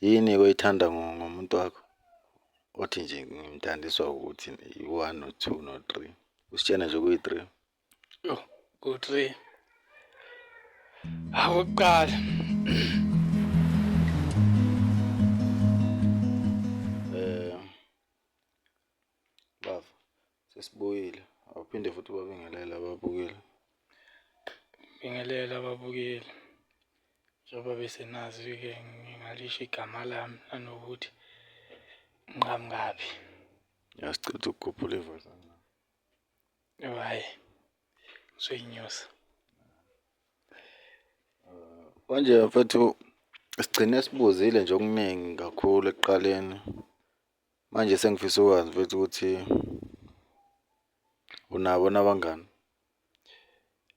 Yini oyithanda ngomuntu wakho othi nje ngimthandiswa ukuthi i-one no-two no-three usitshena nje kuyi-three yho ku-three akuqala Sesibuyile. Awuphinde futhi ubabingelele ababukeli. Bingelela ababukeli. Njengoba besenazi-ke ngingalisho igama lami nanokuthi ngiqhamukaphi. Yasicitha ukukhuphula ivoice. Oh, hhayi. Ngizoyinyusa. Manje mfethu sigcine sibuzile nje okuningi kakhulu ekuqaleni Manje sengifisa ukwazi mfethu ukuthi unabo nabangani?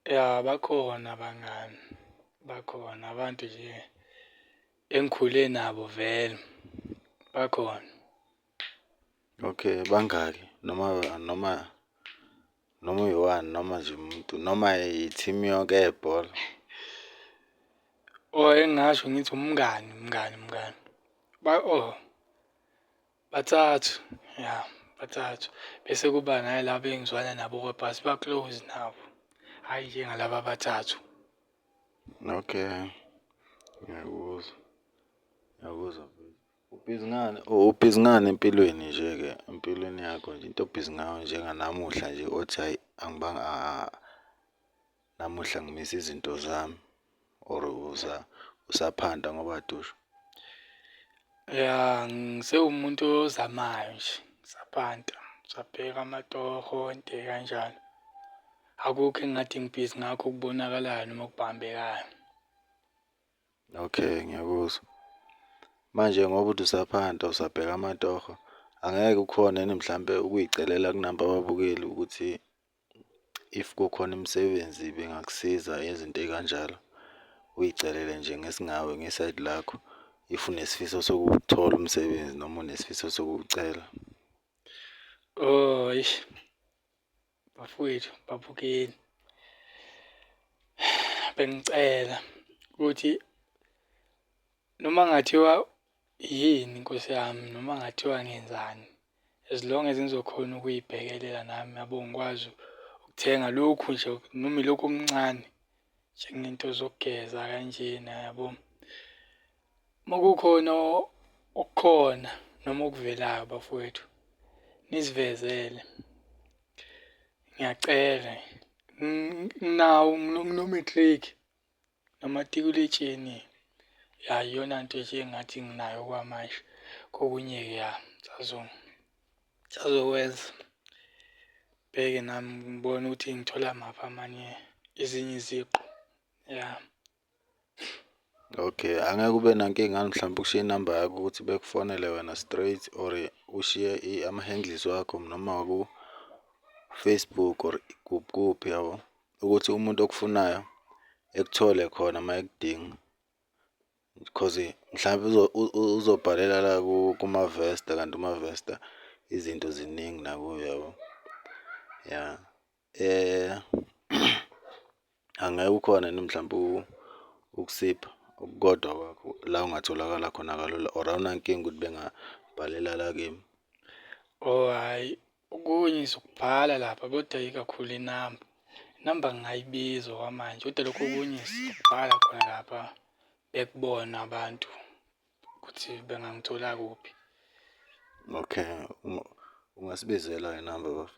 Ya bakhona abangani, bakhona abantu nje engikhule nabo vele, bakhona. Okay, bangaki noma noma noma uyiwani noma nje umuntu noma i-team yonke yebhola or engingasho ngithi umngani umngani umngani ba oh bathathu ya bathathu bese kuba nalaba engizwana nabo kodwa siba close nabo hhayi njengalaba abathathu okay ngiyakuzwa ngiyakuzwa Ubhizi ngani? Oh, ubhizi ngani empilweni nje-ke empilweni yakho nje into obhizi ngayo njenganamuhla nje othi hhayi angibanga namuhla ngimisa izinto zami or uza usaphanda ngoba dusho? Ya ngisewumuntu ozamayo nje ngisaphanta ngisabheka amatoho nje kanjalo. Akukho engingathi ngibhizi ngakho okubonakalayo noma okubambekayo. Okay ngiyakuzwa. Manje ngoba uthi usaphanta usabheka amatoho, angeke kukhone yini mhlampe ukuyicelela kunabo ababukeli ukuthi if kukhona imisebenzi bengakusiza ngezinto ey'kanjalo? Uyicelele nje ngesingawe ngesayidi lakho if unesifiso sokuwuthola umsebenzi noma unesifiso sokuwucela. Eish. bafowethu babukeni bengicela ukuthi noma ngathiwa yini nkosi yami noma ngathiwa ngenzani as long as ngizokhona ukuyibhekelela nami yabo ngikwazi ukuthenga lokhu nje noma ilokhu okuncane njengento zokugeza kanjena yabo Uma kukhona okukhona noma okuvelayo bafowethu nisivezele ngiyacela nginawo nginomatric nomatikuletsheni ya iyona nto nje engathi nginayo kwamanje kokunye-ke ya sazokwenza bheke nami ngibone ukuthi ngithola maphi amanye ezinye iziqu ya. Okay, angeke ube nankinga yini mhlawumbe ukushiya inamba yakho ukuthi bekufonele wena straight or ushiye ama-handles wakho noma waku-Facebook or kuphi kuphi yabo, ukuthi umuntu okufunayo ekuthole khona uma ekudinga. Coz mhlampe uzobhalela la kumavesta kanti umavesta izinto ziningi nakuye yabo, ya. Eh angeke ukhona yini mhlawumbe ukusipha okukodwa kwakho la ungatholakala khona kalula or awunankinga ukuthi bengabhalela la kimi? Oh hhayi okunye sokubhala lapha kodwa ikakhulu inamba, inamba ngingayibiza okwamanje kodwa lokhu okunye sokubhala khona lapha bekubone abantu ukuthi bengangithola kuphi. Okay ungasibizela inamba bafo.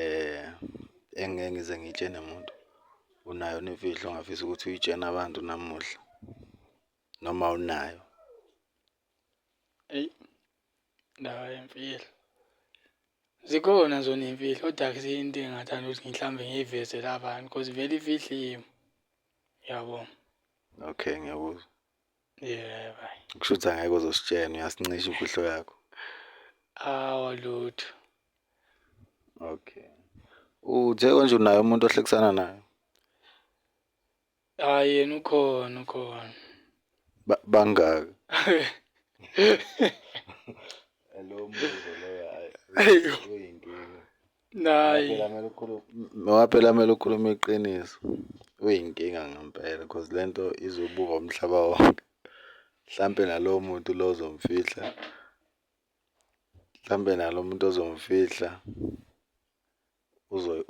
Eh engeke ngize ngitshene muntu unayo imfihlo ongafisa ukuthi uyitshene abantu namuhla noma unayo? Eyi indaba yemfihlo zikhona zona iy'mfihlo kodwa akusiyo into engingathanda ukuthi mhlawumbe ngiyiveze la bantu because vele imfihlo iyimi, uyabo? Okay ngiyakuzwa. yebo kusho ukuthi angeke uzositshena uyasincisha imfihlo yakho awa lutho okay uthe konje unaye umuntu ohlekisana naye hayi yena ukhona ukhona Ba- bangaki Ayo. Nayi. Phela mele ukhulume ngoba phela mele ukhulume iqiniso. Uyinkinga ngempela because lento izobuka umhlaba wonke. Mhlampe nalowo muntu lo ozomfihla. Mhlampe nalowo muntu ozomfihla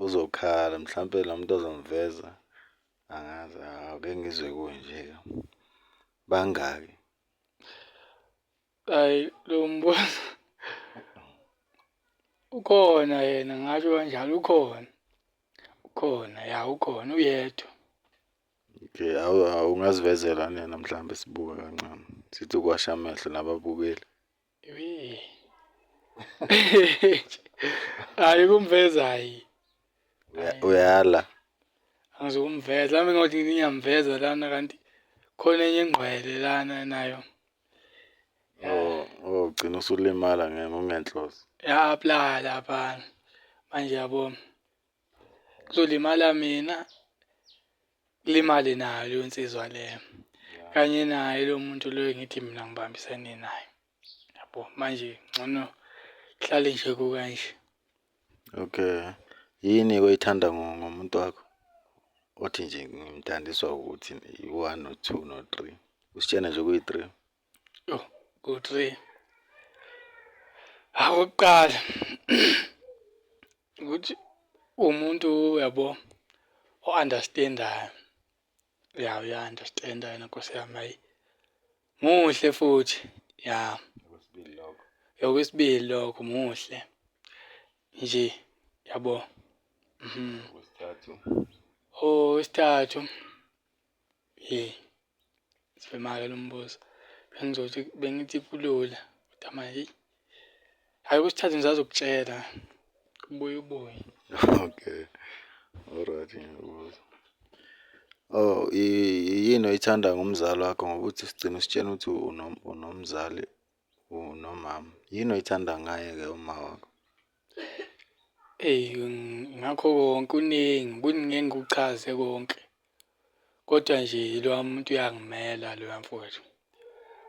uzokhala mhlampe lo muntu ozomveza angazi awuke ngizwe kunje-ke bangaki. Ayi lo mbuzo ukhona yena ngasho kanjalo ukhona. Ukhona ya ukhona uyedwa. Okay, awu awu, ungazivezela nina mhlawumbe sibuke kancane. Sithi ukwasha amehlo nababukeli. Yee. Hayi kumveza hayi. Uya- Uyala. Angizokumveza mhlawumbe ngothi ngiyamveza lana kanti khona enye ingqwele lana nayo. ugcina usulimala ngokungenhloso ya apply laphana manje yabo kuzolimala mina kulimale nayo leyo nsizwa leyo kanye naye lo muntu loyo ngithi mina ngibambisene naye yabo manje ngcono hlale nje kukanje Okay. Yini oyithanda ngo- ngomuntu wakho? Othi nje ngimthandiswa ukuthi i-one no two no three. Usitshena nje kuyi-three. Oh, ku-three. Hawu okokuqala ukuthi uwumuntu uyabo o-understand-ayo. ya uya understand yena nkosi yami ayi muhle futhi ya okwesibili lokho okwesibili lokho muhle nje yabo mhm okwesithathu okwesithathu hey sifemaka lombuzo bengizothi bengithi kulula kodwa manje Hayi kusithathe ngisazokutshela. Ubuye ubuye. Okay. Alright ngiyakubuza. Oh, i- i- yini oyithanda ngomzali wakho ngoba uthi sigcina usitshena ukuthi unom- unomzali unomama. Yini oyithanda ngaye-ke uma wakho? Eyi ngakho konke kuningi kuningi ngeke ngikuchaze konke, kodwa nje loya muntu uyangimela loya mfwethu.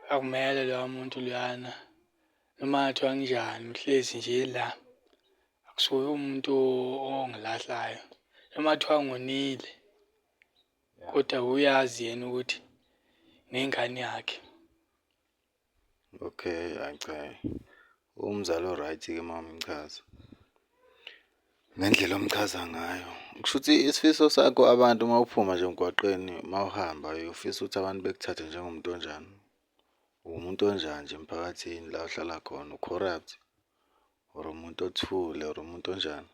Uyangimela loya muntu loyana noma kungathiwa kunjani uhlezi nje la. Akusuye umuntu ongilahlayo noma kuthiwa ngonile kodwa uyazi yena ukuthi ngingane yakhe. Okay hayi cha uwumzali o-right ke uma umchaza ngendlela omchaza ngayo. Kushuthi isifiso sakho abantu uma uphuma nje emgwaqeni uma uhamba uyofisa ukuthi abantu bekuthathe njengomuntu onjani. Uwumuntu onjani nje emphakathini la ohlala khona u-corrupt or umuntu othule or umuntu onjani.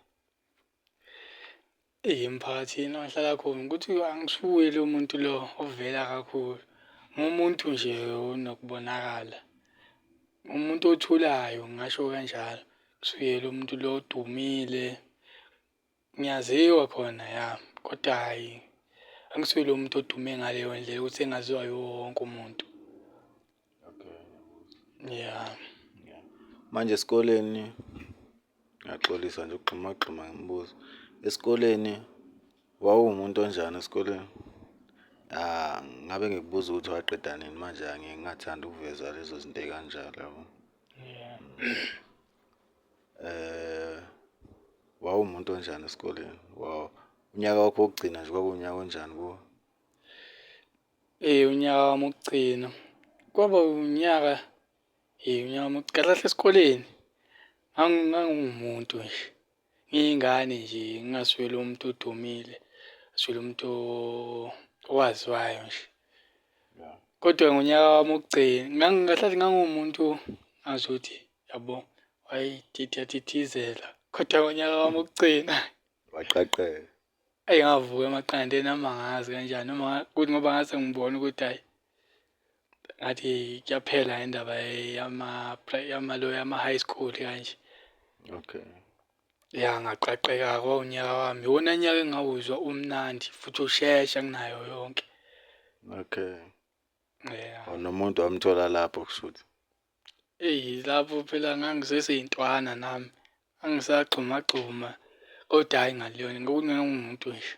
Eyi emphakathini engihlala khona ukuthi angishukuyi lo muntu lo ovela kakhulu. Ngumuntu nje onokubonakala. Umuntu othulayo ngingasho kanjalo. Ngisuye lo muntu lo odumile. Ngiyaziwa khona ya, kodwa hhayi angisuye lo muntu odume ngaleyo ndlela ukuthi engaziwa yiwo wonke umuntu. Yeah. Manje esikoleni ngiyaxolisa nje ukugxumagxuma ngemibuzo. Esikoleni wawuwumuntu onjani esikoleni? Ah, ngabe ngikubuza ukuthi waqeda nini manje angiye ngingathandi ukuveza lezo zinto ey'kanjalo yabo. Yeah. Eh, wawuwumuntu onjani esikoleni? Wawu unyaka wakho wokugcina nje kwakuwunyaka onjani kuwe? Eh unyaka wami wokugcina. Kwaba unyaka eh unyaka wami kahle kahle esikoleni ngangiwumuntu nje. Ngiyingane nje ngingasweli umuntu odumile, ngasweli umuntu owaziwayo nje. Kodwa ngonyaka wami wokugcina kahle kahle ngangiwumuntu ngazuthi yabo wayethithizela. Kodwa ngonyaka wami wokugcina. Waqaqeka. Eyi ngavuka emaqandeni noma ngazi kanjani noma kuthi ngoba ngase ngibona ukuthi hhayi ngathi kuyaphela indaba yama yama lo yama high school kanje okay ya ngaqaqeka kwawunyaka wami iwona nyaka engawuzwa umnandi futhi ushesha kunayo yonke okay yeah nomuntu wamthola lapho kushuthi Eyi lapho phela ngangiseseyintwana nami, ngangisagxumagxuma kodwa hhayi ngaluyona ngangiwumuntu nje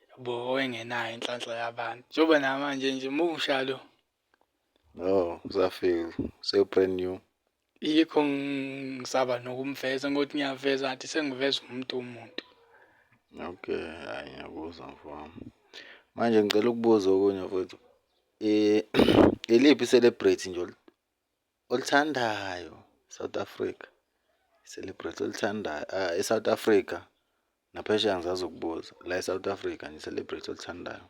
yabo owayengenayo inhlanhla yabantu. Njengoba namanje nje musha lo. No, usafika sewu-brand new. Yikho ngisaba nokumveza ngokuthi ngiyaveza ngathi sengiveza umuntu umuntu. Okay, hhayi ngiyakuzwa mfowami. Manje ngicela ukubuza okunye futhi. Eh, iliphi celebrate nje olithandayo South Africa? Celebrate olithandayo ah, e-South Africa naphesheya ngizazi ukubuza la e-South Africa nje celebrate olithandayo.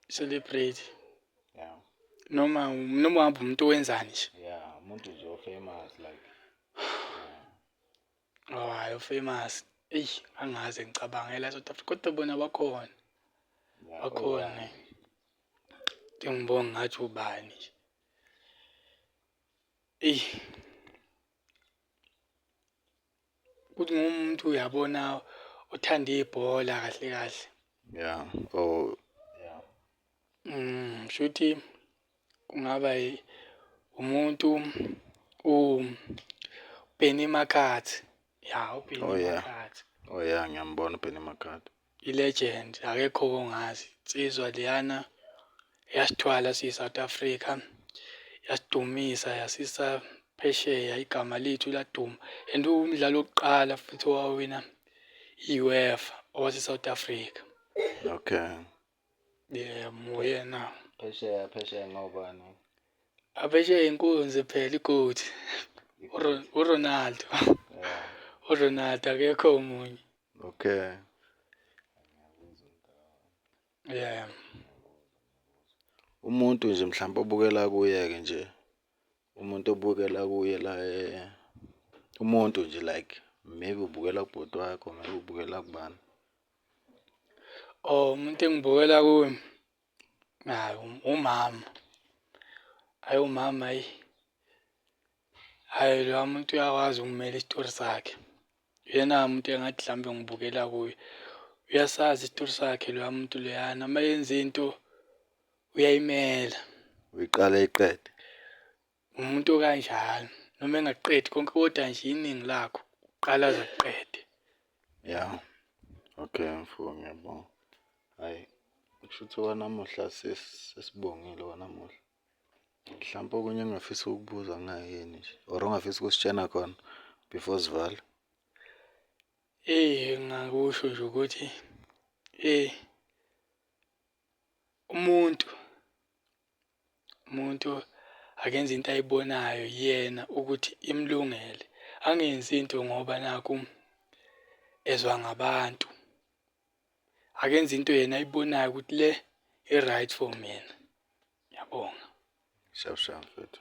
Celebrate. Yeah. Noma noma uhamba umuntu owenzani nje. Yeah, umuntu nje ofamous like Hhayi uFamous eyi angaze ngicabange la South Africa kodwa bona bakhona bakhona ngibonga ngathi ubani nje eyi ukuthi ngumuntu uyabona othanda ibhola kahle kahle yeah oh yeah mm shuthi Kungaba umuntu uBenny Makhathi. Ya, uBenny oh, yeah. Makhathi. Oh yeah, ngiyambona uBenny Makhathi. I-legend, akekho kongazi. Insizwa liyana yasithwala siyi-South Africa, yasidumisa yasisa phesheya igama lethu laduma and umdlalo wokuqala futhi owawina i-UEFA owase-South Africa. Okay. yebo uyena phesheya phesheya ngobani aphesheya inkunzi phela ikoti uronaldo uronaldo akekho omunye okay yeah umuntu nje mhlawumbe obukela kuye-ke nje umuntu obukela kuye la eh, umuntu nje like maybe ubukela kubhuti wakho maybe ubukela kubani Oh umuntu engibukela kuye awu umama. Ayi umama ayi ayi loya muntu uyakwazi ukumela isitori sakhe. Uyena muntu engathi mhlawumbe ngibukela kuye. Uyasazi isitori sakhe loya muntu loyana uma yenza into uyayimela. Uyiqala ayiqede. Umuntu okanjalo noma engaqedi konke kodwa nje iningi lakho uqala aze kuqede. Ya. Okay mfo ngiyabonga. Hayi kushuthi wanamuhla sesibongile wanamuhla. Mhlawumpe okunye engingafisa ukukubuza kungayini nje or ongafisa ukusitshena khona before sivale? Eyi engingakusho nje ukuthi eyi Umuntu, umuntu akenze into ayibonayo yena ukuthi imlungele. Angenzi into ngoba nakhu ezwa ngabantu. Akenze into yena ayibonayo ukuthi le i-right for mina. Ngiyabonga. Sharp sharp mfethu.